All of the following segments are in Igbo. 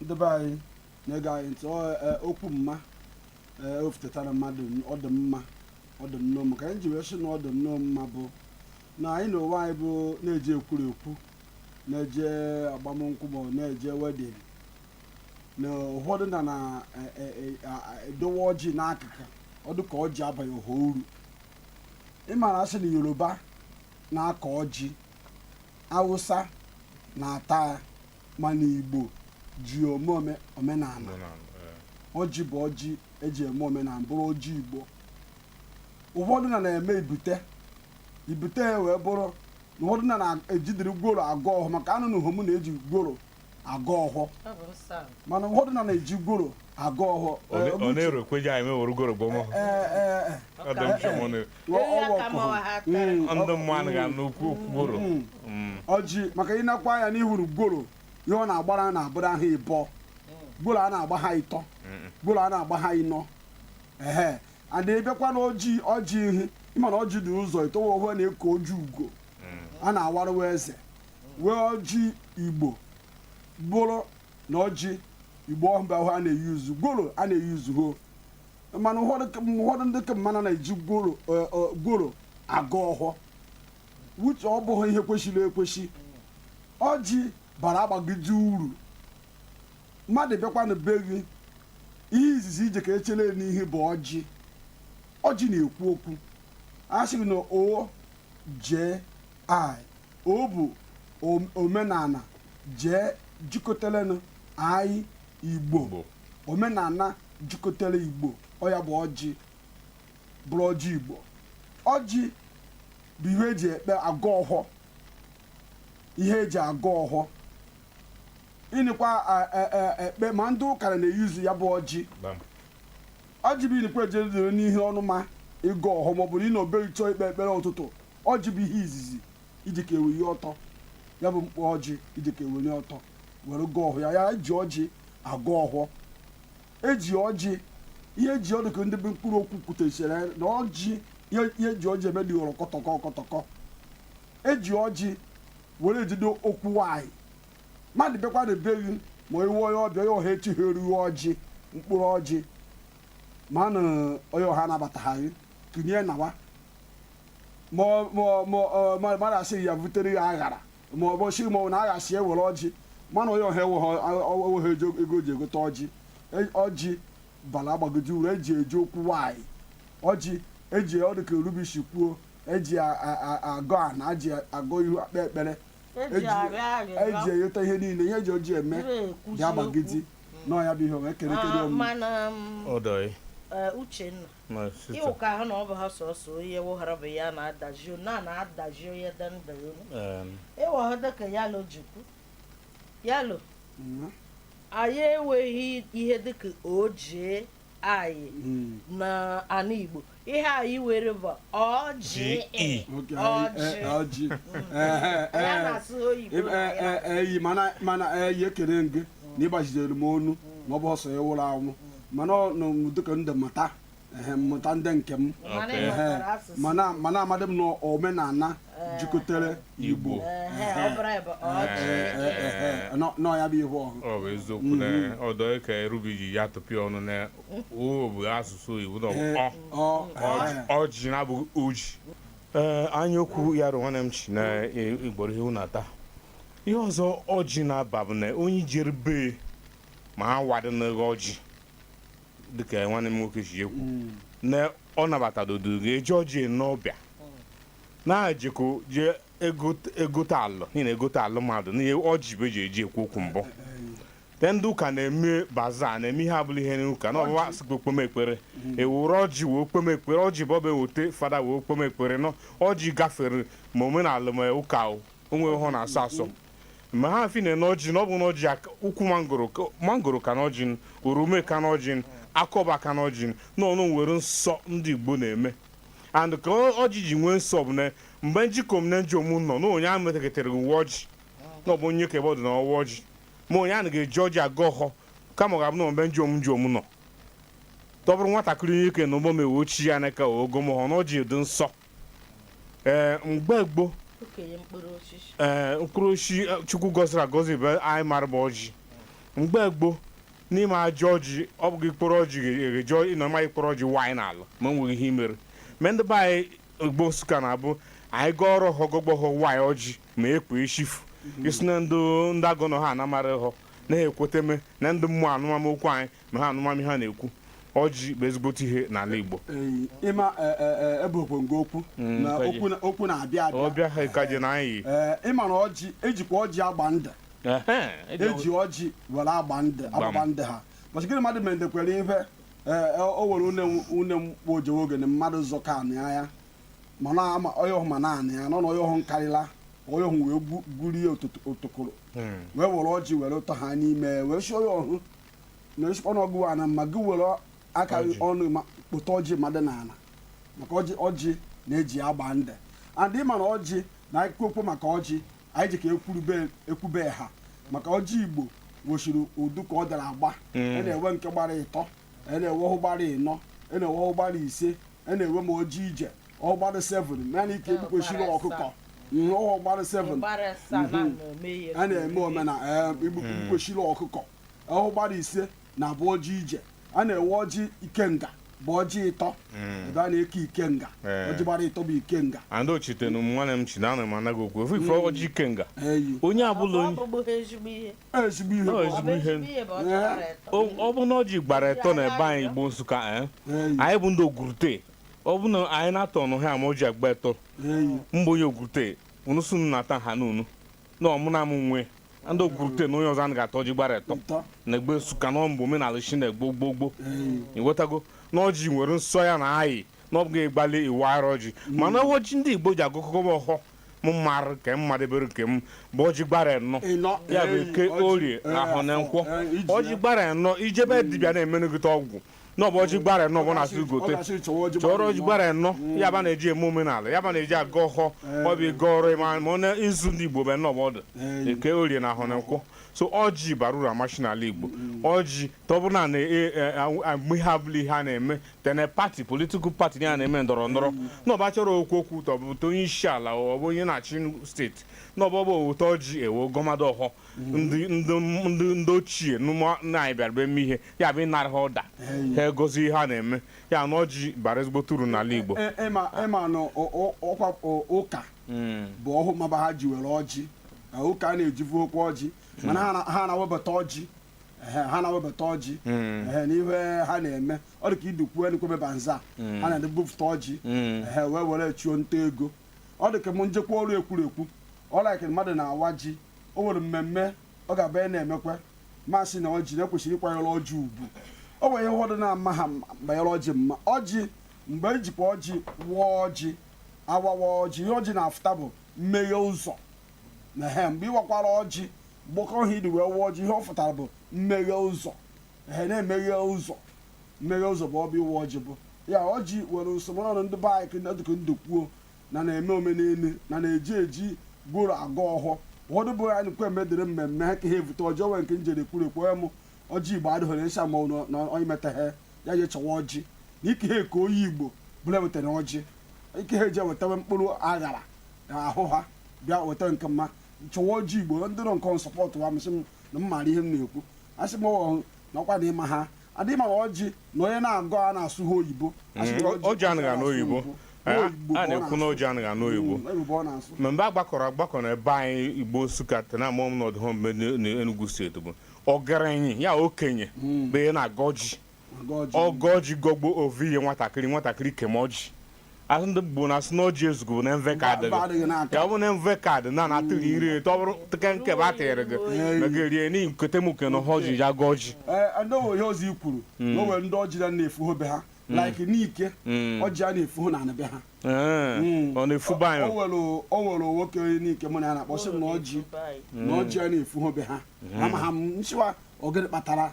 ndị be anyị na-ege anyị ntị ọ, eh, okwu mma ee o futetara mmadụ n- ọ dị mma ọ dị nnọọ mma ka anyị ji wee sị na ọ dị nnọọ mma bụ na anyị na onwe anyị bụ na-eje ekwuru ekwu na-eje agbamnkwụ bụ na-eje wedding na ụfọdụ na na e- e- e- a- a- edowe ọjị n'akụkụ ọ dị ka ọjị abaghị ọha uru ị mara a sị na yoruba na-akọ ọjị awụsa na-ata ya mana igbo ji ome ome- omenala Omenala, eh. ọjị bụ ọjị eji eme omenala bụrụ ọjị igbo ụfọdụ na na-eme ibute ibute ya wee bụrụ na ụfọdụ na na-ejidiri gworo agọ ọhọ maka anụnụhọ mụ na eji gworo agọ ọhọ Ọ bụ nsọ ala. mana ụfọdụ na na-eji gworo agọ ọhọ Ọ na- ọ na-erokweji anyị mewere gworo gbọmọ Ọ ka Ọ dị mfe ma ọ na- ndị mmadụ ga n'okwu okwu gworo ọjị maka i nekwaa ya n'ihuru gworo ihe ọ na-agbara na-abụrụ ha ịbọ gworo a na-agba ha ịtọ gworo a na-agba ha ịnọ ehe and ị bịakwa na ọjị ọjị ihu ị ma na ọjị dị ụzọ ịtọ wee ohu a na-eku ọjị ugo a na-awarụwa eze wee ọjị igbo bụrụ na ọjị igbo ọhụrụ ahụ a na-euse gworo a na-euse ho mana ụfọdụ ka- ụfọdụ ndị ka mmanụ na-eji gworo eh, eh, gworo agọ ọhọ which ọ bụghị ihe kwesịrị ekwesị ọjị bara agbagide uru mmadụ bịakwa na be gị ihe izizi i je ka echele ya n'ihu bụ ọjị ọjị na-ekwu okwu a sịrị na o jee i o bụ om- omenala jee jikọtalenụ anyị igbo omenala jikọtara igbo ọ ya bụ ọjị bụrụ ọjị igbo ọjị bụ ihe eji ekpe agọ ọhọ ihe eji agọ ọhọ ịnịkwa a- e- e- ekpe ma ndị ụka na-euse ya bụ ọjị Bam. ọjị bụ ịnịkwa eje dịrị n'ihe ọnụma ịgọ ọhọ maọbụ na ị nọ be gị chọọ ikpe ekpere ụtụtụ ọjị bụ ihe izizi i ji ka eweli ọtọ ya bụ mkpụrụ ọjị i ji ka eweli ọtọ were gọọ ọhọ ya ya eji ọjị agọ ọhọ eji ọjị ihe eji ọ dị ka ndị bụ mkpụrụ okwu kwutechara ya na ọjị ihe ihe eji ọjị eme dịghọrọ kọtọkọ kọtọkọ eji ọjị were ejide okwu nwanyị mmadụ bịakwa na be gị ma i wee onye ọbịa ya ọha echeharụ gị ọjị mkpụrụ ọjị ma na onye ọha anabataghị kinie nawa ma ọ- ma ọ- ma ọ- ma mmadụ asịghị ya butere ya aghara ma ọ bụ si ma ọ bụ na agha si ewere ọjị mana onye ọha enweghị ego ji egote ọjị E- ọjị bala agbagodi uru eji eji okwu nwanyị ọjị eji ọ dịka rubishi kwuo eji a- a- a- agọ ana eji agọ ihu ekpe ekpere eji arịọ eji arịrịọ ayọta ihe niile ihe eji ọjị eme ire ekwuzi ya agbagidi okwu. nọ ya bụ ihe o wee kere kere Ah, ọmụ mana m, Odoi. eh, uchenna ịwụ ka ha na ọ bụ ha sọsọ onye woghara bụ ya na-adazi na na-adazi onye dị ndụ ịwọha dịka yalo ji kwu yalo anyị enweghị ihe dịka oji anyị na ana igbo ihe anyị nwere bụ ọjị ọjị eyi mana eyi ekele gị na ị gbaziri m onu na ọ bụ ha sọ onye nwụrụ anwụ mana ọ nọ m dịka ndị mata ehe, mmụta ndị nke m Mana ị ehe, ghọtara asụsụ. mana mana amadị m na omenala jikọtara igbo Ehe, ọ bụrụ anyị bụ ọjị. Ehe, ehe, nọ- nọ ya bụ ihe ọhụ ọ bụ eziokwu na ọ dịka erubi ji ya tụpịa ọnụ na ọ bụ asụsụ igbo na ọ bụ ọ ọ Ọjị- ọjị na-abụghị oji ee anya okwu ya rụ nwanne m chi na e- gworo ihe na-ata ihe ọzọ ọjị na-aba bụ na onye jere be ma ha wadị n'ego ọjị dịka nwanne m nwoke si ekwu hmm. na ọ nabatadodo ga-eji ọjị n'ọbịa na-ejikọ jee egote alụ n'ihi na egote alụ mmadụ n'ihe ọjị bụ eji eji ekwu okwu mbụ te ndị ụka na-eme baza na-eme ihe ọbụla ihe n'ụka na ọbụwa asịkwa kpeme ekpere ewere ọjị wee kpeme ekpere ọjị bụ ọba eweta fada wee kpeme ekpere na ọjị gafere ma omenala ma ụka o o nwe ihe ọ na-asọ asọ mgbe ha fi na n'ọjị na ọ bụ n'ọjị aka- ukwu mangoro ka- mangoro ka n'ọjị oroma ka n'ọjị akọba ka n'ọjị na ọ nwere nsọ ndị igbo na-eme and ka ọ- ọjị ji nwee nsọ bụ na mgbe njikom na njom nọ na onye ahụ metakịtara ịwa ọjị na ọ bụ onye ka ebe ọ dụ na-awa ọjị ma onye ahụ ga-eji ọjị agọ ọhọ kama ọ ga-abụ na mgbe njom njom nọ ọ bụrụ nwatakịrị onyeke na ụgbọ m ewe ochie ya na ka ogo m hụ na ọjị dị nsọ ee mgbe gboo okenye mkpụrụ osisi ee mkpụrụ osisi eh, chukwu gọziri agọzi bụ anyị mara bụ ọjị mgbe gboo n'ime ajọ ọjị ọ bụghị mkpụrụ ọjị ga-eji ịnọ ma mkpụrụ ọjị waanyị n'ala ma enweghị ihe imere ma ndị be anyị igbo nsụka na-abụ anyị gọọrọ ọhọ gọgbọghọ waanyị ọjị ma ekwe echifu isi na ndị ndị agọnọ ha anamara ọhọ na-ekweteme na ndị mmụọ anụmama okwu anyị ma ha anụma m ihe ha na-ekwu ọjị bụ ezigbote ihe n'ala Igbo Ee, ịma e- e- e- ebe okpongo okwu Mm, na kaji. okwu na- okwu na-abịa abịa ọbịa ha ka je na anyị Ee, ịma na ọjị ejikwa ọjị agba ndụ Ehe, eji eji ọjị were agba ndụ Gbam. agbagba ndụ ha bọchị gịnị mmadụ mere ndekwere ihe ee, e- o were une m- une m kpọ o jewe oge ne mmadụ zọka anị ya mana ama onye ọhụ ma na anị ya nọ na onye ọhụ nkarịla onye ọhụ wee gwu- gwurie otot- otokoro Mm. wee were ọjị were tọọ ha n'ime wee si onye ọhụ na ị sikwa na ọ gụ nwe ana ma gị were aka gị Ọjị. ọnụ ma kpụta ọjị mmadụ n'ala maka ọjị ọjị na eji agba ndụ and ị ma na ọjị na ekwukwe maka ọjị anyị ji ka ekwurube ekwube ha maka ọjị igbo nwesịrị ụdụ ka ọ dara agba a na-enwe nke gbara ịtọ a na-enwe ọhụ gbara ịnọ a na-enwe ọhụ gbara ise a na-enwe ma ọjị ije ọhụ gbara seven ma nke egbukwesịrị Ọ gbara ọkụkọ asaa. Mm, ọhụ gbara seven Gbara asaa na Mhm. na-eme ihe a na-eme omena ee egbukwesịrị ọkụkọ ọhụ gbara ise na abụ ọjị ije a na-enwe ọjị ikenga bụ ọjị ịtọ ebe a na-eke ikenga Ee. ọjị gbara ịtọ bụ ikenga and ochite na nwanne m chi na ana m anaghị okwu ofe ife ọjị ikenga eyi onye abụla onye Ọ bụghị ezigbo ihe. ezigbo ihe Ọ bụ ezigbo ọjị. ihe. ihe bụ ọ chọrọ ịtọ. O- ọ bụ na ọjị gbara etọ na ebe anyị igbo nsụka eh? Eyi, anyị bụ ndị ogurute ọ bụ na anyị na-ata ọnụ ha ma ọjị agba etọ eyi. mgbe onye ogurute unu sunu na-ata ha n'unu na ọmụna m nwe ndị ogurute na onye ọzọ anaghị ata ọjị gbara etọ Ịtọ. na egbe nsụka na ọ bụ omenala shi na gboo gboo gboo ịghọtago na ọjị nwere nsọ ya na ayị na ọ bụghị ịgbalị ịwara ọjị mana ọjị ndị igbo ji agọkọkọ m ọhọ m marụ nke m madebere nke m bụ ọjị gbara enọ Ịnọ. ya bụ Ee, eke ọjị. orie Ee, ahọ na nkwọ Ee, iji ọjị ya. gbara enọ i jebe dibịa na-emenụgịta ọgwụ na ọ bụ ọjị gbara enọ bụ na-asị gote chọrọ ọjị gbara enọ mm. ya bụ a na-eji eme omenala ya bụ a na-eji agọ ọhọ eh. ọ bụ ịga ọrụ ịma ma ọ na izu ndị igbo bụ enọ bụ ọ dụ eh. eke orie na ahọ na nkwọ so ọjị bara uru amachi n'ala igbo mm. ọjị tọbụna na mgbe ọbụla ihe a na-eme tene party political party ya na-eme ndọrọ ndọrọ mm. na ọ bụ a chọrọ ikwu okwu tọbụ onye isi ala ọ bụ onye na-achị state na ọ bụ ebute ọjị e wee gọmadụ ọhọ ndị ochie na anyị bịara eme ihe ya bụ ịnara ha ọda ha egozi ihe a na-eme ya na ọjị bara ezigbote uru n'ala Igbo e, e, ịma e na ọkwa ụka hmm. bụ ọhụ maba ha ji were ọjị ụka a na-ejivukwa ọjị mana ha na-awebata ọjị ha na-awebata ọjị hmm. n'ihe ha na-eme ọ dị ka idukwuo enwekwebe bazaar hmm. ha na-ebupụta ọjị hmm. wee were chụọ nta ego ọ dị ka m njekwa ọrụ ekwuru ekwu ọ like mmadụ na-awa ji o nwere mmemme ọ ga-abụ ya na-emekwa masị na ọjị na e kwesịrị ịkwanyere ọjị ugwu o nwere ihe ụfọdụ na-ama ha banyere ọjị ma ọjị mgbe ejikwa ọjị waa ọjị awawa ọjị ihe ọjị na-afụta bụ mmeghe ụzọ na he mgbe ịwakwara ọjị gbakọ ihe i ji wee waa ọjị ihe ọ fụtara bụ mmeghe ụzọ ihe na-emeghe ụzọ mmeghe ụzọ bụ ọ bụ ịwa ọjị bụ ya ọjị nwere nsọ mana ndị be anyị kenda dịka ndụ kwuo na na-eme omenelu na na-eji ọjị gworo agọ ọhọ ụfọdụ be anyị nkwe mme dịrị mmemme ha ka ha evute ọjị o nwere nke m jere kwuru ekwe mụ ọjị igbo adịghị nsha ma ọ na onye metaghị ya je chọwa ọjị na ike ha eke onye igbo ọbụla wetara ọjị ike ha eji ewetawe mkpụrụ aṅara ahụ ha bịa weta nke mma chọwa ọjị igbo ndị nọ nke support wa sị m na m maara ihe m na-ekwu asị m ọhụ na ọkwa na ịma ha adịghị ama na ọjị na onye na-agọ a na-asụ ha oyibo Asị m na Mm, ọjị anaghị anụ oyibo. Oyibo A- a ka ọ na-ekwu na ọjị anaghị anụ oyibo. Mm, oyibo ọ na-asụ ma mgbe a gbakọrọ agbakọ na ebe anyị igbo nsụka tena mụọ m n'ọdụ home n'enugwu steeti bụ ogerenyi ya okenye bụ onye na-agọ ọjị ọ gọọ ọjị gọgbo o vunye nwatakịrị nwatakịrị kee ọjị asị ndị igbo na-asị na ọjị ezugụ bụ na mvọ aka adịghị ya bụ na mvọ aka dị na na-atụghị iri eto ọ bụrụ teke nke bụ atịrị gị na gị rie n'ihi nkete m kene ha ọjị ya gọji anọghị ihe ọzọ i kwuru na o nwere ndị ọjị na na-efu ha be ha like n'ike ọjị a na-efu ha na anị be ha ọ na-efu be anyị o nwere nwoke n'ike mụ na ya na-akpa sị m na ọjị na ọjị a na-efu ha be ha ama ha m nchịwa ọ gịnị kpatara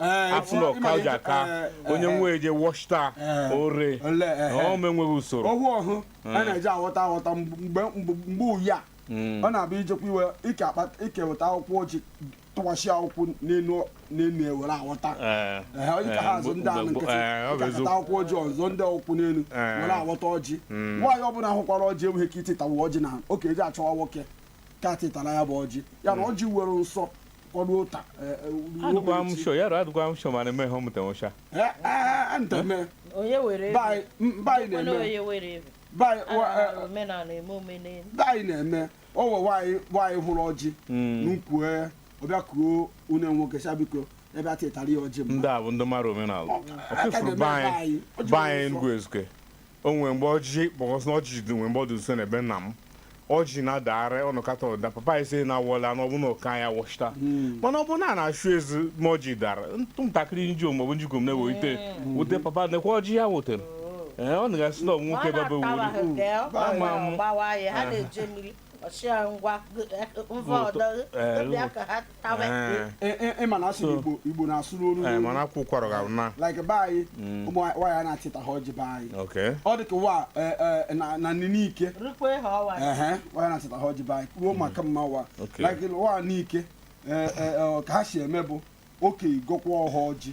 Eh, afụ na ọka ji aka eh, onye eh, nwe eje wọchita ore ọma enweghị usoro ọhụ ọhụ a hmm. na-eji aghọta aghọta mgbe uyi a hmm. ọ na-abịa ijekwa iwe ikeweta akwụkwọ ọjị tụkwasị akwụkwọ n'elu n'elu ewere aghọta onye ka ha azụ ndị anụ nkịtị ịkakọta akwụkwọ ọjị ọzọ ndị akwụkwọ n'elu were aghọta ọjị hmm. nwaanyị ọbụla hụkwara ọjị enweghị ike ịtụtawa ọjị na ọ ka eje achọwa nwoke ka tụtara ya bụ ọjị ya na ọjị nwere nsọ ọrụ ụta adụkwa m sho ya adụkwa m sho mana eme ihe ọmụta nwụcha nteme onye were be anyị na-eme onye were ebe baị omenala eme omenala be anyị na-eme ọ wụ nwaanyị nwaanyị hụrụ ọjị n'ukwu ya ọ bịa kuo onye nwoke sị a biko bịa tụtara ya ọjị mba ndị a bụ ndị mara omenala ọfụfụrụ be anyị be anyị enugwu ezike O nwere mgbe ọjị kpọkọsị na ọjị dị nwere mgbe ọ dị nso na be nna m ọjị na-adagharị ọ nọkata ọ daa papa anyị sị na awọla na ọ bụ na ụka ya wọchita mana ọ bụ na a na-achụ ezi ma ọjị dara ụmụ ntakịrị nji omu ma ọ bụ njikom na-ewelite wute papa nekwa ọjị ya wutere ee ọ na-gasị na ọ nwoke baba wuru Ama m. gbawa ya ha na-eje mmiri ọchịa ngwa mva ọdọ Ee, bịa ka ha tawe Eh, E- e- e- ị ma na asị So- igbo igbo na-asụ n'olu eh, n'olu. mana akwa ụkwara ga na like be anyị ụmụ nwaanyị a na-achịta ha ọjị be anyị okay ọ dị ka wa eh, eh, na- na nne n'ike rukwe ha ọwa ehe nwaanyị na-achịta ha ọjị be anyị kwuo maka mma wa Okay. like wa n'ike eh, eh, eh, ka ha si eme bụ oke ịgọkwa ọhọ ọjị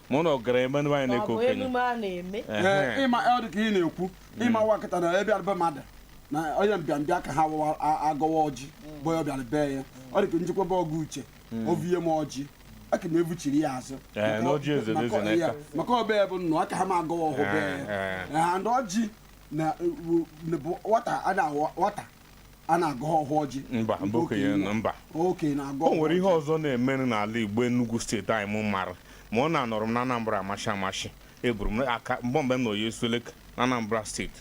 ma ụnụ gara eme nwaanyị na-eke okenye emume a na-eme ee ịma ọ dị ka ị na-ekwu ịma nwa nkịta na abịara be mmadụ na onye mbịambịa ka ha wawa agọwa ọjị bụ ya bịara bee ya ọ dị ka m jekwa be ọga Uche hmm. o vuye m ọjị aka m evuchiri ya azụ maka ọ be ya bụ nnụ aka ha m agọwa ọhụ bee ya na ọjị na nwata a na-awọ nwata a na-agọ ọhụ ọjị mba mba okenye nọ mba okenye na-agọ o nwere ihe ọzọ na-emenụ n'ala igbo Enugu steeti anyị m mara mana anọrọ m na Anambra amashi amashi eburu m aka mgbe mgbe m na oyi esueleke na Anambra steeti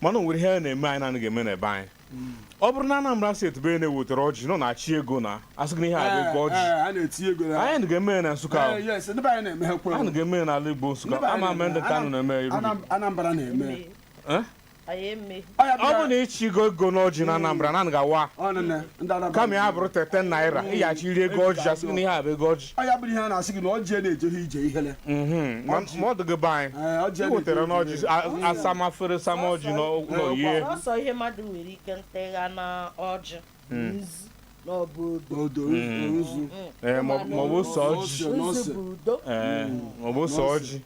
mana o nwere ihe a na-eme anyị na-anaghị eme n'ebe anyị hmm. ọ bụrụ na Anambra steeti be na-ewetara ọjị nọ na-achị ego na asị gị na ihe a bụ ego ọjị anaghị eme ya na Nsụka ahụ anaghị eme ya n'ala Igbo Nsụka ama m ma ndị Nkanu na-eme iru Anambra na-eme ọ bụ na ị chịghị ego n'ọjị na Anambra anaghị awa kama ya bụrụ ten ten naira ị ga-achịriri ego ọjị asị na ihe a bụ ego ọjị ọ ya bụrụ ihe a na-asị gị na ọjị na-ejeghị ije ihele mhm. ma ọ dịghị be anyị ị wetara n'ọjị asama afere sama ọjị nye ọ sọ ihe mmadụ nwere ike ntịgha na ọjị maọbụ ose ọjị maọbụ ose ọjị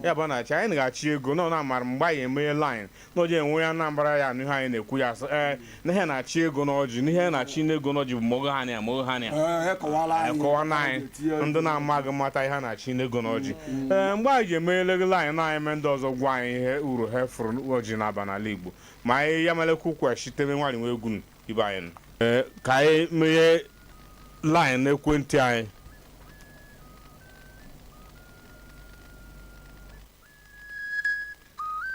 ya bụ na-achị anyị na-achị ego na ọ na-amara mgbe anyị emeghe line na ọ je enwe onye Anambra ya-anụ ihe anyị na-ekwu ya sị ee n'ihe na-achị ego n'ọjị n'ihe na-achị n'ego n'ọjị bụ mogo ha na mogo ha na ekọwa na anyị ndị na-amaghị mata ihe na-achị n'ego n'ọjị ee mgbe anyị ji emeghele gị line na anyị mee ndị ọzọ gwa anyị ihe uru ha fụrụ ọjị na-aba n'ala Igbo ma anyị ya melekwu kwesịtere nwaanyị nwa egwu ibe anyị nọ. Ee, ka anyị meghe laịn ekwentị anyị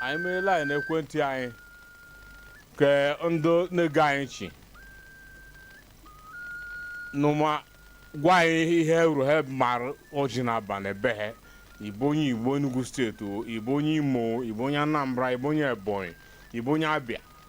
anyị meghe laịn ekwentị anyị ka ndị na-ege anyị nchị nụma gwa anyị ihe uru ha mara ọjị na-aba na be ha ị bụ onye Igbo Enugu steeti o, ị bụ onye Imo o, ị bụ onye Anambra ị bụ onye Ebonyi ị bụ onye Abịa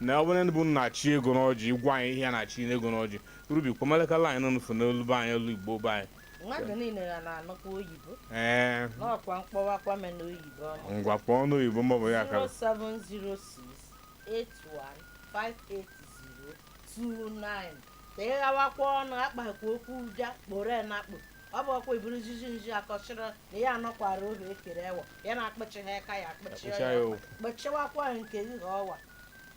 na ọ bụ unu bụ ndị na-achị ego n'ọjị ị gwa anyị ihe a na-achị n'ego n'ọjị Rubi kpọmalekala anyị nụfụ n'olu be anyị olu igbo be anyị mmadụ niile ya na-anụkwa oyibo ee n'ọkwa m kpọwakwa m na oyibo ọma ngwa kpọọ ọnụ oyibo mọbụ ya ka 07068158029 ka ị ghawakwa ọnụ akpakwa okwu ụja kporo ya na akpụ ọ bụ ọkwa iburu nzuzu nzu akọchịrị na ya anọkwara obi ekere ewa ya na-akpọchi ha aka ya akpọchi Akpọchie ya ya ọkwa. o. kpọchiwakwa nke gị ha ọwa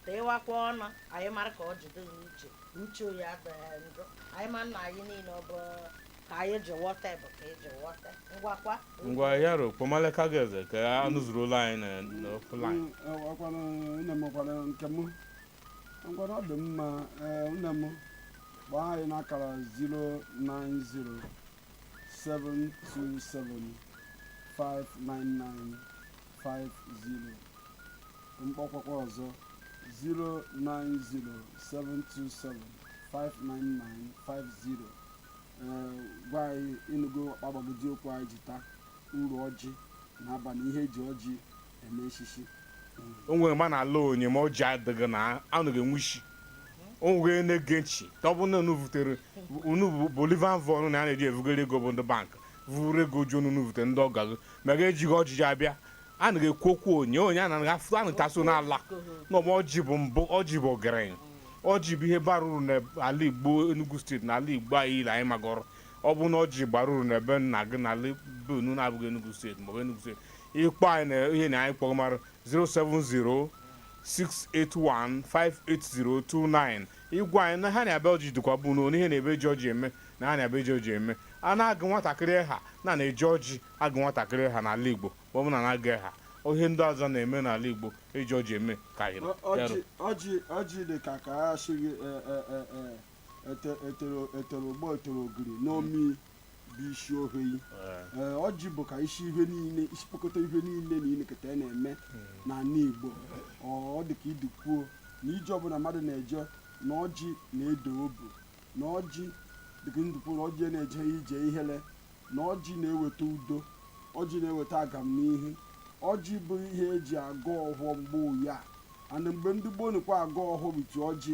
teewakwa ọnụ anyị mara ka ọ jide gị uche uche onye adịghị njọ anyị ma nna anyị niile ọ bụ ka anyị ji wọta bụ ka eji wọta ngwakwa ngwa ya ro kpọmaleka gị eze ka anụ zuru ụlọ anyị na- na ọkụ line ọkwanụ nne m gwara nke m ngwanụ ọ dị mma ee nne m kpọọ anyị n'akara 09072759950 m kpọkwakwa ọzọ 09072759950 ee gwa anyị ị nụgo ọkpagbagodi okwu anyị ji taa uru ọjị na-aba na ihe eji ọjị o nwere ma na-ala onye ma ọjị adịghị na anaghị enwe isi o nwere na-ege nchi ka ọ bụ na unu vutere unu bụ bullion van a na-eji evugara ego bụ ndị bankị vuru ego ji unu vutere ndị ọgọ gị ma gị ejighị ọjị ji abịa a naghị ekwu okwu onye onye a na-aga afụ anụ taso n'ala na ọma ọjị bụ mbụ ọjị bụ ọgaranya ọjị bụ ihe bara uru n'ala Igbo Enugu steeti na ala Igbo anyị ile anyị magọrọ ọ bụ na ọjị bara uru n'ebe nna gị n'ala be unu na-abụghị Enugu steeti maọbụ Enugu steeti ị kpọọ anyị na ihe na anyị kpọrọ mara 07068158029 ị gwa anyị na ha na-abịa ọjị dịkwa bụ na ihe na-ebe ji ọjị eme na ha na-abịa eji ọjị eme a na-agụ nwatakịrị aha na na-eji ọjị agụ nwatakịrị aha n'ala igbo ma ọ bụ na na-agụ aha ihe ndị ọzọ na-eme n'ala igbo eji ọjị eme ka anyị ọjị dị ka ka a sị gị etere ụgbọ etere ogiri n'omi bụ isi ohe ee ọjị bụ ka isi ihe niile isi kpokọta ihe niile na ilekọta ya na-eme n'ala Igbo ọ ọ dị ka idi kwuo na ije ọbụla mmadụ na-eje na ọjị na-edu obu na ọjị dịka ndụpụ na ọjị na-eje ije ihere na ọjị na-eweta udo ọjị na-eweta agamnihu ọjị bụ ihe eji agọ ọhọ mgbe ụya ana mgbe ndị gboo nụkwa agọ ọhọ biti ọjị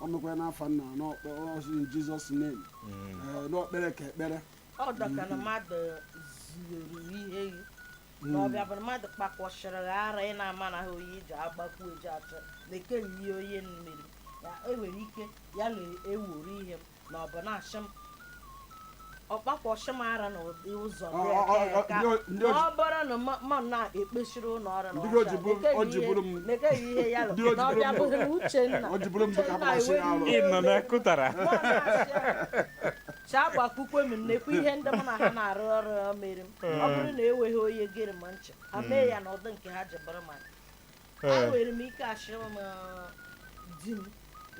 o mekwara n'afa nna n'ọsụ in Jesus name mm. eh, na o kpere ka ekpere ọ dị ka na mmadụ zuru ihe gị na ọ bịa bụrụ mmadụ kpakwasịrị gị ara ị na-ama na ha oyi ji agbakwu eji achọ nke ihe onye meri ya enwere ike ya na eweru ihe m na ọ bụ na-achị m ọkpakwọchị m ara na ụdị ụzọ Ọ- ọ- ọ- ọ- ndị o- ndị o ji- ọ bụrụ na ma- ma na-ekpechiri ụlọ ọrụ na Ndị ọcha, o ji bụrụ- na-ekeghị o ji ihe- bụrụ m- na-ekeghị ihe ya lụ ndị o ji na ọ bụrụ bịa m- bụrụ Uchenna ọ ji bụrụ m dịka Uchenna mmasị ewere alụ. iwe Ị nọ wee- n'akụtara. Mụ na-achị ya. chaa gbakwukwe m nnekwu ihe ndị mụ na ha na-arụ ọrụ mere m ọ bụrụ na enweghị onye gere m ntị ha mee ya n'ụdị nke ha ji bụrụ mmadụ Ee. enwere m ike asị m ah, di m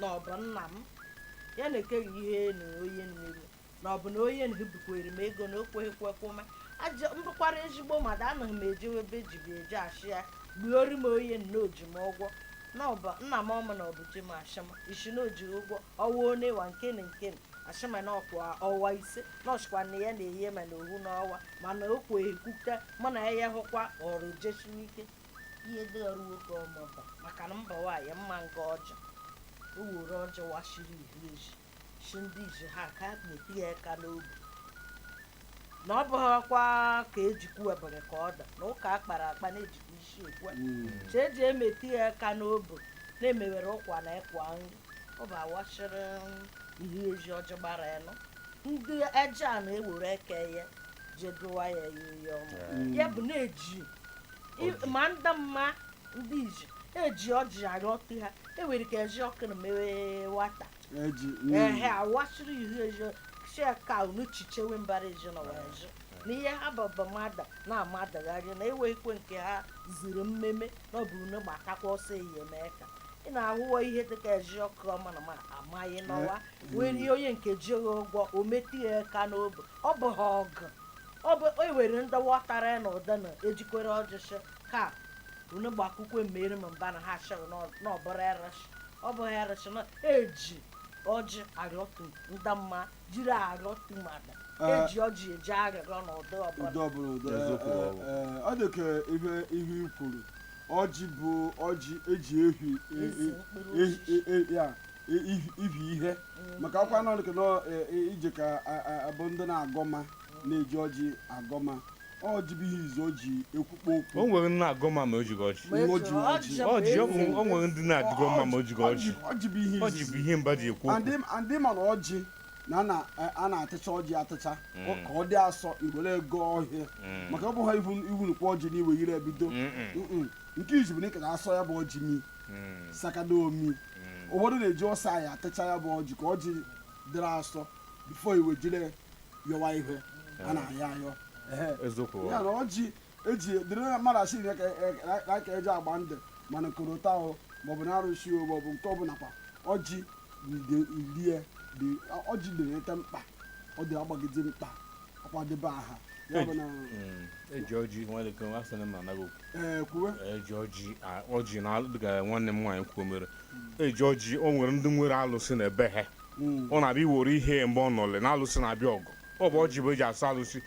na ọ bụ nna m ya nke ihe na onye meru na ọ bụ na onye nhe bikwere m ego na o kweghị kwụọkwa m m bụkwara ezigbo mmadụ anaghị m ejewe ebe dibịa je asị ya gbuori m onye na o ji m ụgwọ na ọ bụ nna m ọma na ọ bụ di m asị m isi na o ji ụgwọ ọnwa one wa nke na nke na asị m na ọkwa ọnwa ise na ọ sịkwa na ya na-enye m na ohu n'ọnwa mana o kweghị kwụta mụ na ya ya hụkwa ọrụ jisiwe ike ihe dị ọrụ nwoke ọma ba maka na mba nwaanyị mma nga ọjọọ were ọjị washiri ihu ezi shi ndị iji ha ka na-emetụ ya aka n'obi na ọ bụghịkwa ka ejikwu webere ka ọ da na ụka a kpara akpa na-ejikwa isi ekwe che eji emetụ ya aka n'obi na-emewere ụkwa na ịkwa nri ọ bụ awashiri ihu ezi ọjị gbara anọ ndị eje a na-ewere eke ya jedụwa ya ya ihe ọma ya bụ na-eji I- ma ndị mma ndị iji eji ọjị arịọtụ ha enwere ike eji ọkụ na mewe wata eji ehe awasịrị ihu ezi shị ka unu chichewe mbara ezi na wee jụ na ihe ha baba mmadụ na-amadagharị na eweghịkwe nke ha ziri mmeme na ọ bụ unu gbatakwa ọsọ eyi eme ka ị na-ahụwa ihe dịka eji ọkụ ọma na ma amaghị n'ụwa wee rie onye nke jighị ụgwọ o metụ ya aka n'obi ọ bụ ha ọgụ ọ bụ ewere ndị watara na ụda na ejikwere ọjị shị ka unu gbakwụkwọ mmeri ma mba na ha asịrị na ọbụrụ arụsị ọ bụ arụsị na eji ọjị arịọtụ ndị mma jiri arịọtụ mmadụ eji ọjị eji arịrịọ na ụdị ọbụla ụdị ọbụla ụdị Eziokwu ọ bụ. ee, ọ dị ka ihe ihe i kwuru ọjị bụ ọjị eji ehi e- Ezi e- mkpụrụ e- osisi. e- e- ya ihi ihe maka ọkwa nọ nke e, e, ije ka abụ ndị na-agọ mma na-eji ọjị agọ mma ọjị bụ ihe izi o ji ekwukpo okwu o nwere ndị na-agọ mma ma o jighị ọjị ọjị ọ bụ o nwere ndị na-adịgọ mma ma o jighị ọjị ọjị bụ ihe mbụ e ji ekwu okwu a ndị ma na ọjị na e, a na-atịcha ọjị atịcha mm. ka ọ dị asọ i were e gọọ ihe mm. maka ọ bụghị iwu nukwu ọjị na i wee jiri ebido nke izi bụ na ị ka na-asọ ya bụ ọjị mi hmm. sakada omi hmm. ụfọdụ na-eji ọsọ anyị atịcha ya bụ ọjị ka ọjị dịrị asọ before i wee jiri yọwa ihe a eh. na-ayọ ayọ ya na ọjị eji dịrị na mmadụ asị na ka eji agba ndụ mana korota ahụ maọbụ na arụsị maọbụ nke ọbụla kwa ọjị rie ọjị na-enweta mkpa ọ dị agbagide mkpa akwadebe aha ya bụ na Mm, eji ọjị nwere ike asị na m anaghị okwu ee kwuwe eji ọjị a- ọjị na alụ dịka nwanne m nwaanyị kwuo mere eji ọjị o nwere ndị nwere alụsị na ebe ha Mm. ọ na-abịa iwere ihe mgbe ọ nọle na alụsị na-abịa ọgụ ọ bụ ọjị bụ eji asị alụsị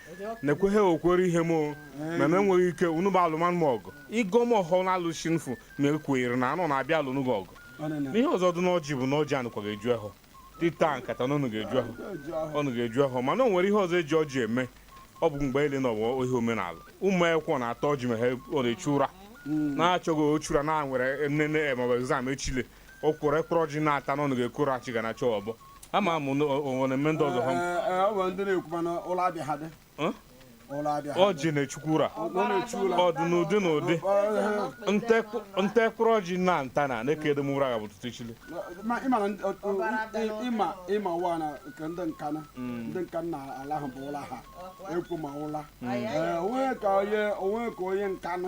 na-ekweghị okwere ihe m o, ma m enweghị ike unu bịa alụmanụ m ọgụ ịgọ m ọhọ na alụsị nfu na ekwenyere na anọ na-abịa alụnụ gị ọgụ Ọ na- na- n'ihe ọzọ dị n'ọjị bụ na ọjị anọkwaghị eju ahọ ịta nkata na ọ nọga eju ahọ ọ nọga eju ahọ mana o nwere ihe ọzọ eji ọjị eme ọ bụ mgbe ele na ọbụ ihe omenala ụmụ akwụkwọ na-ata ọjị maka ọ na-achụ ụra na-achọghị ịchụ ụra na nwere nnene maọbụ exam echile ọ kwụrụ ekpụrụ ọjị na-ata na ọ nọga ekoro achị ga na-achọ ọbọ ama m na o nwere mme ndị ọzọ ha Ee, ee, ọ bụ ndị na-ekwu mana ụlọ abịa ha dị ọjị na-echukwu ụra ọ dụ n'ụdị n'ụdị m ta mkpụrụ ọjị na nta na na-ekede m ụra ga bụ ụtụtụ echi le ịma ụwa na nke ndị nkanụ mm. ndị nkanụ ala ahụ bụ ụla ha ekwu ma ụla mm. o nwe ka onye nkanụ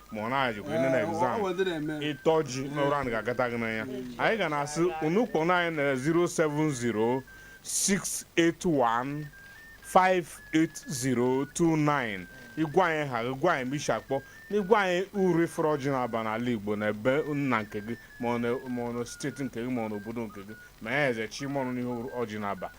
ma ọ na-ejikwa ine na exam ị ta ọjị n'ụra agaghị agata gị n'anya anyị ga na-asị unu kpọọnụ anyị na 070 681 58029 ị gwa anyị aha gị gwa anyị ebe i si akpọ na ị gwa anyị uru ị fụrụ ọjị na-aba n'ala igbo na ebe nna nke gị ma ọ na- ma ọ na steeti nke gị ma ọ na obodo nke gị ma ya eze chi ma ọnụ n'ihe ọjị na-aba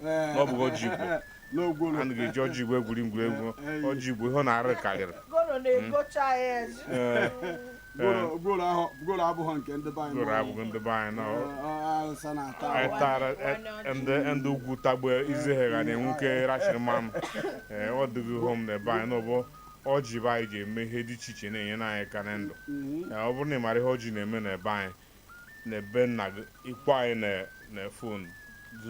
na ọ bụghị ọjị igbo na gworo anaghị eji ọjị igbo egwuri egwuregwu ọjị igbo ihe ọ na-arụ karịrị gworo na-egocha ya eze Ee, gworo gworo ahụ gworo abụghị nke ndị be anyị gworo abụghị ndị be anyị na ọ- awụsa na-ata anyị awa. tara e- ndị ndị ugwu tagbu eze ha ga na-enwu ka e rachiri mmanụ ee ọ dịghị ihe mana be anyị na ọ bụ ọjị be anyị ji eme ihe dị iche iche na-enyere anyị aka na ndụ Mhm. Ee, ọ bụrụ na ị mara ihe ọjị na-eme na be anyị na be nna gị ị kpọọ anyị na na fon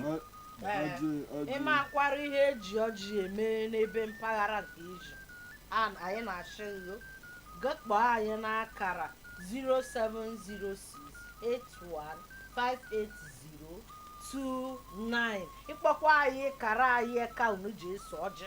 Ọ- Ee, ọjị ọjị ị makwara ihe e ji ọjị eme n'ebe mpaghara nke i si an anyị na-asị gị gị kpọọ anyị n'akara 07068158029 ị kpọkwa anyị kara anyị ka unu ji eso ọjị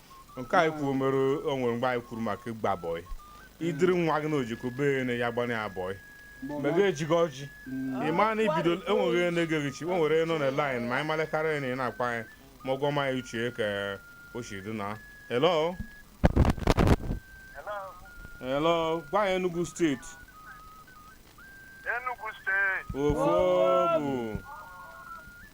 nke anyị kwuru mere o nwere mgbe anyị kwuru maka ịgba bọị i duru nwa gị na-ejeko be onye gbanye ya bọị ma gị ejighị ọjị ị ma na ị bido enweghị onye na-ege gị nchị o nwere nọ na laịn ma anyị malekarịa onye na-akpọ anyị ma ọ gwa ma anyị uche ka o si dị na hello hello gwa anyị Enugu steeti Enugu steeti ofo bụ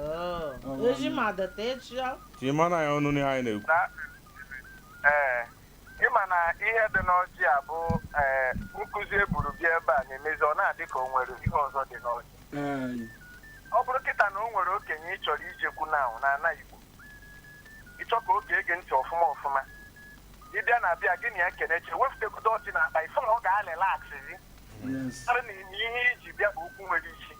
Oo, Eji m adịta echi ọ. Ka ị mara ya ọnụ n'ihe anyị na-ekwu. na ee ịma na ihe dị n'ọjị a bụ ee nkụzi e buru bịa ebe a na-emezi ọ na-adị ka o nwere ihe ọzọ dị n'ọjị Ee, ọ bụrụ kịta na o nwere okenye ị chọrọ ijekwu na na ana igbo ị chọọ ka o gee gị ntị ọfụma ọfụma ị bịa na be ya gị na ya keneche wepụtagodo ọjị na akpa ị fụ na ọ ga-alịlaksịzi yes. karị na ihe i ji bịa bụ okwu nwere isi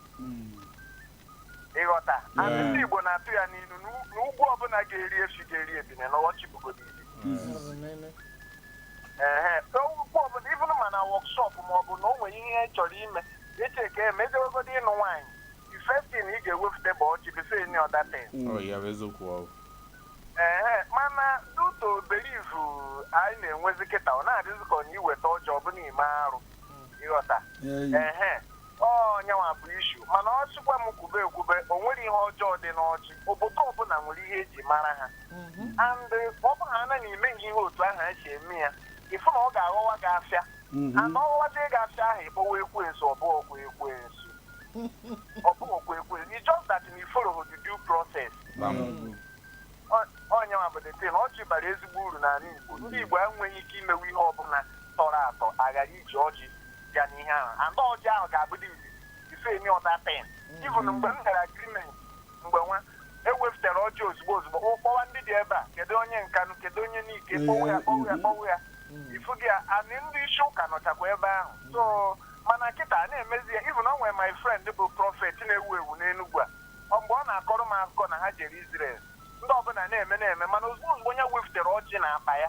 ịghọta Yeah. and ndị igbo na-atụ ya n'ilu na o- na okwu ọbụla ga-eri efi ga-eri ebine na ọjị bugo n'ili ehe okwu ọbụla even ma na wọkshọp ma ọ bụ na o nwere ihe ị chọrọ ime eche ka emejewegodi ịnụ nwaanyị the first thing ị ga-ewepụta bụ ọjị before any other thing ọ ya bụ eziokwu ọ bụ. ehe mana due to belief anyị na-enwezi kịta ọ na-adịzi ka ọ na i weta ọjị ọ bụlụ ime arụ ịghọta ehe ọ nya nwa bụ issue mana ọ sịkwa m kwube ekwube o nwere ihe ọjọọ dị n'ọjị obodo ọbụla nwere ihe eji mara ha and ọ bụrụ na imeghị ihe otu ahụ esi eme ya ịfụ na ọ ga-aghọwa gị afịa and ọghọwazie gị afịa ahụ ịkpọwa ekwensu ọ bụghọkwa ekwensu ọ bụghọkwa ekwensu it's just that na ị follow the due process ọ nya nwa bụ the thing ọjị bara ezigbo uru n'ala Igbo ndị Igbo enweghị ike imewe ihe ọbụla tọrọ atọ aghara iji ọjị bịa n'ihe ahụ and ọjị ahụ ga-abụdị izizi ife emi ọta pen even mgbe m gara agreement mgbe nwa ewepụtara ọjị ozugbo ozugbo o kpọwa ndị dị ebe a kedu onye Nkanụ kedu onye Nike kpọwa ya kpọwa ya kpọwa ya ifu gị ya anị ndị isi ụka nọchakwa ebe ahụ so mana kịta a na-emezi ya even o nwere my friend bụ prophet na-ewu ewu n'Enugwu a ọ mgbe ọ na-akọrọ m akụkọ na ha jere Israel ndị ọbụla na-eme na-eme mana ozugbo ozugbo onye wepụtara ọjị n'akpa ya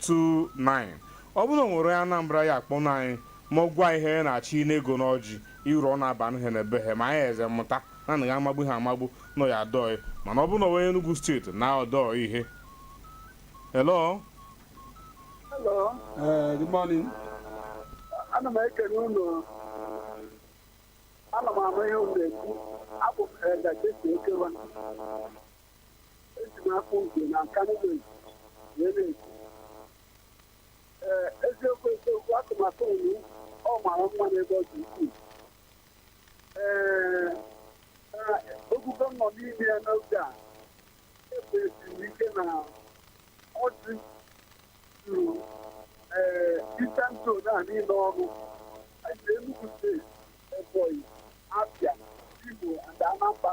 29 ọ bụrụ na o nwere onye Anambra ya kpọọnụ anyị ma ọ gwa ihe ya na-achọ ị na-ego n'ọjị iru ọ na-aba ihe na ebe ha ma anyị eze mụta na na amagbu ha amagbu na ọ ya adịghị mma na ọ bụrụ na onye Enugu steeti na ọdọ ihe hello Hello, Eh, good morning. ana m ekele unu ana m ama ihe unu na-ekwu abụ m Elda Jesi Okewa n'afọ nke na Nkanụ wee na-ekwu ee eziokwu eziokwu atụmatụ unu ọ mara mma n'ebe ọ dị ukwuu ee oge a nọ n'ime ya n'oge a ekwesịrị ike na ọjị juru ee Eastern Zone a niile ọrụ anyị na Enugu steeti Ebonyi Abia Imo and Anambra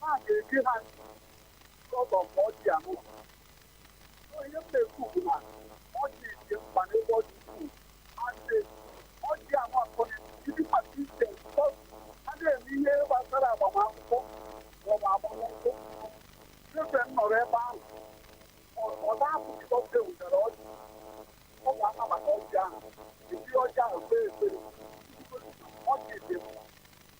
ha ga-eji ha because of ọjị a mụ so ihe m na-ekwu bụ na ọjị dị mkpa n'ebe ọ dị ukwuu asị ọjị a nwa akọ ndị mmadụ ise because a na-eme ihe gbasara agbamakwụkwọ maọbụ agbamakwụkwọ ebe m nọrọ ebe ahụ ọ na-apụ because e wetara ọjị ọ ga-ama maka ọjị ahụ ejiri ọjị ahụ kpee ekpere ọjị dị mkpa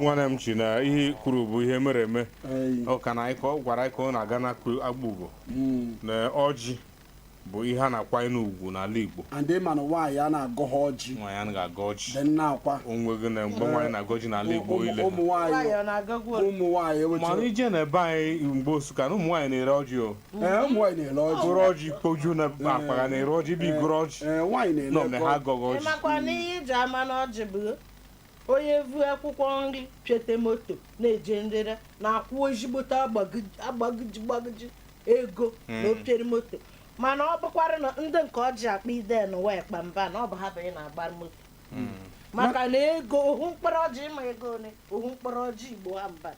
nwanne m chi na ihe i kwuru bụ ihe mere eme Ee, ọ ka na anyị ka ọ gwara anyị ka ọ na-aga n'Akegbe Ugwu mm. na ọjị bụ ihe a na-akwanyere ugwu n'ala igbo and ị ma na nwaanyị anaa agọha ọjị nwaanyị anaghị agọ ọjị dị nna akwa o nwego na mgbe nwaanyị na-agọ ọjị n'ala igbo Ụmụ- ile ụmụ nwaanyị nwaanyị ọ na-agọkwu ọjị? ụmụ nwaanyị mana ewetara ije na ebe anyị mgbe Nsụka na ụmụ nwaanyị na-ere ọjị o Ee, ụmụ nwaanyị na-ere ọjị goro ọjị kpoju n'akpa ga na-ere ọjị bụ igoro ọjị Ee, nwaanyị na-ere nọ na ha ego. agọghị ọjị Ị makwa na ihe iji ama na ọjị bụ onye vu akwụkwọ nri pịote moto na-eje nrere na-akwụ ezigbote agbagiji agbagiji gbagiji ego na o piere moto mana ọ bụkwara na ndị nke ọjị akpa ide na wee kpa mba na ọ bụ ha bụ ị na-agba moto maka na ego ohu mkpụrụ ọjị ị ma ego ole ohu mkpụrụ ọjị Igbo ha mba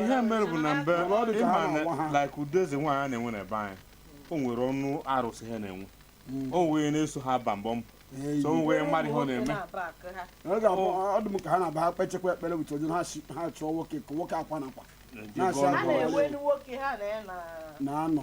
ihe mere bụ na mbe ị ma na like ụdị eze nwaanyị a na-enwe na be anyị o nwere ọnụ arụsị ha na-enwe hmm. o nwee onye na-eso ha ba mbọ mbọ so wee mmadụ ihe ọ na-eme ọ dị m ka ha na-aba ha kpechekwa ekpere with ọjị ha chọọ nwoke ka nwoke akwa na akwa na-anọ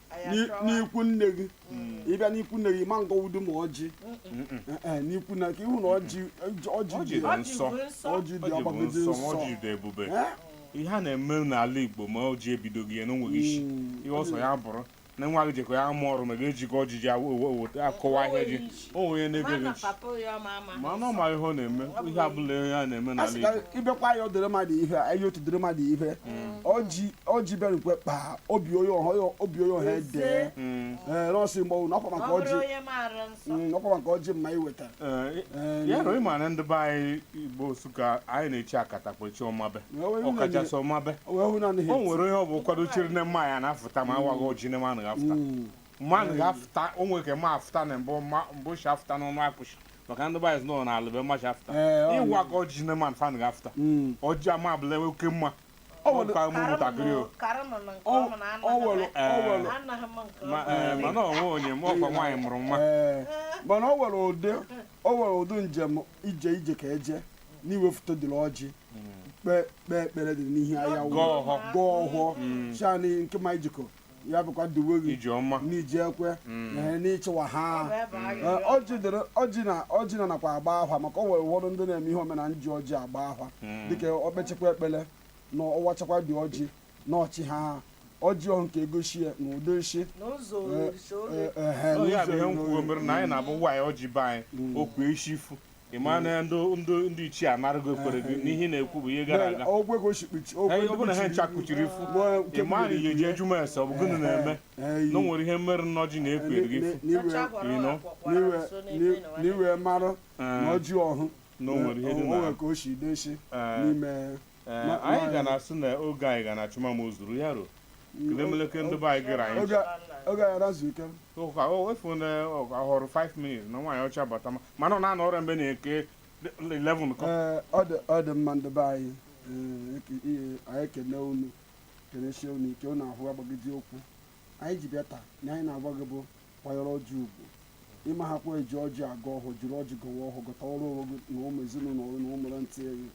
n'ikwu nne gị hmm. ị bịa n'ikwu nne gị ma ngọwudu ma ọjị eh, eh, n'ikwu na ka ị hụ na ọjị dị nsọ ọjị dị agbagiji nsọ ọjị dị ebube eh? ihe a na-eme n'ala Igbo ma ọjị ebidoghị ya na o nweghị isi hmm. ihe ọ sọ ya bụrụ na nwa gị jekwa ya amụ ọrụ ma gị ejighị ọjị ji akọwa ihe ị ji o nwere onye na-ege gị ntị mana ọ ma ihe ọ na-eme ihe ọbụla ihe a na-eme a n'ala sị ka Igbo ịbịakwa ya ọ dịrị mmadụ ihe a ihe otu dịrị mmadụ ihe ọjị ọjị bịarukwe kpaa obi onye ọha obi onye ọha edee Mm, ee nọọsụ mgbanwụ na ọkwa maka ọjị Mm, ọkwa maka ọjị mma iweta eh, Ee, ya na ị ma na ndị be anyị Igbo Nsụka anyị na-echi akatakpa chi ọmabe Wee wee ọkachasị ọmabe wee hụ na o anaghị nwere onye ọ bụ kwadochere na mma ya na-afụta ma a waghị ọjị na mma anaghị afụta Mm. mmanwụ ga-afụta o nwere ike mma afụta na mbụ ma- mbụ si afụta n'ọnụ akpụshi maka ndị be anyị sị na n'ala be mma shi afụta Ee, ọ- ị waghị ọjị na mma anaghị afụta Mm. ọjị ama abụla oke mma Ọ ọ nwere- ka ụmụ ntakịrị o Ọ- ọ nwere- ọ nwere- Ma- ee, mana o nwe onye ma ọkwa nwaanyị mụrụ nwa Ee, mana o nwere ụdị o nwere ụdị njem ije ị jekọ eje na ị wefute dịrị ọjị kpee kpee ekpere dị n'ihe ahụ Gọọ ọhọ. gọọ ọhọ shị na nke ma ị jekọ ya bụkwa duwe gị ije ọma n'iji ekwe mm. na n'ịchịwa ha ọjị na ọjị na nakwa agba ahwa maka o nwere ụfọdụ ndị na-eme ihe omenala ji ọjị agba ahwa mm. dịka o kpechekwa ekpele na ọ wachakwa dị ọjị na ọ chịha ọjị ọhụ nke egosi ya na ụdị o shi ya bụ ihe mere na anyị na-abụ nwaanyị ọjị be anyị mm. o kpushi ifu ị ma na ndị ndị ndị ichie anaraghị ekpere gị n'ihe ị na-ekwu bụ ihe gara aga ogwe ka o si kpuchi ogwe Ee, ndị ọ bụrụ na ha kpuchiri- ncha kpuchiri ifu Nwa nke ị ma na kpuchiri ihe ji ya. jụma ese ọ bụ gịnị na-eme Ee, na o nwere ihe merụ na ọjị na-ekpuru gị ifu n'iwe Ịnọ. n'iwe n'i- na ị wee marụ na ọjị ọhụ na o nwere ihe dị o na nwere ka o si desi Ee. n'ime anyị ga na-asị na oge anyị ga na-achụ ma o zuru ya ruo kedemeleke ndị be anyị gara anyị oge anyị razu ike ụka o efu na ọ họrọ 5 minutes na nwaanyị ọcha bata ma mana ọ na-anọ ọrịa mgbe nke 11 kụọ ọ dị mma ndị be anyị anyị ekene unu kenesie unu ike unu ahụa agbagiji okwu anyị ji bịa taa na anyị na-agwa gị bụ kwanyere ọjị ugwu ịma ha kwa eji ọjị agọ ọhọ jiri ọjị gọwa ọhọ gọtarụ onwe gị na ụmụ ezinụlọ gị na ụmụrụ ntị gị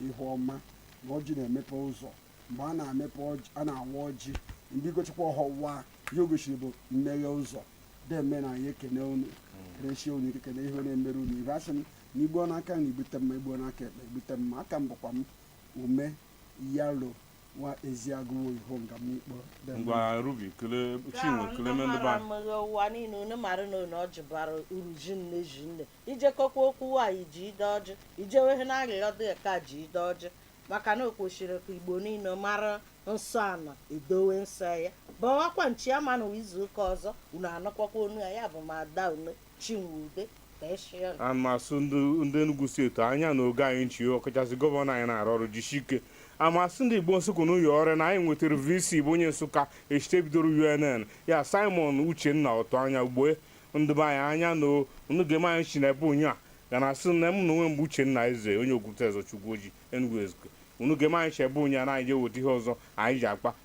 ihe ọma na ọjị na-emepe ụzọ mgbe a na-emepe ọjị a na-awa ọjị mgbe ị gọchikwa ọhọ wa ihe o gosiri bụ mmeghe ụzọ deeme na anyị ekene unu kenesie unu ike kene ihe na-emere unu ibe asị m na i gbuo n'aka nri i gbute mma i gbuo n'aka ekpe i gbute mma aka m bụkwa m ume yalo nwa eziagụwo ihonga m ikpọ ngwa rubi kele chinwe kele mendụba mghe ụwa niile unu mara na unu ọjị bara uru shinne shinne i jekọkwa okwu nwaanyị jide ọjị ijewehe na arịrịọ dị ka jide ọjị maka na o kwesịrị ka igbo niile mara nsọ ana edowe nsọ ya bawakwa nchi ama na izu ụka ọzọ unu anụkwakwa onu ya ya bụ ma ada unu Chinwube Kpesịrị. ana m asị ndị Enugu steeti anya na oge anyị chi ọkachasị gọvanọ anyị na-arụ ọrụ jisi ike ana m asị ndị Igbo Nsụka na ụyọ ọrịa na anyị nwetara VC bụ onye Nsụka eshite bidoro UNN ya Simon Uchenna Ọtụanya ugbue ndị be anyị anya na o- unu ga-eme anyị chi na ebe onye a ga na asị na m na onwe mgbe Uchenna Eze onye Okwute Ezochukwu Oji Enugu Ezike unu ga-eme anyị chi ebe onye a na anyị je weta ihe ọzọ anyị ji akpa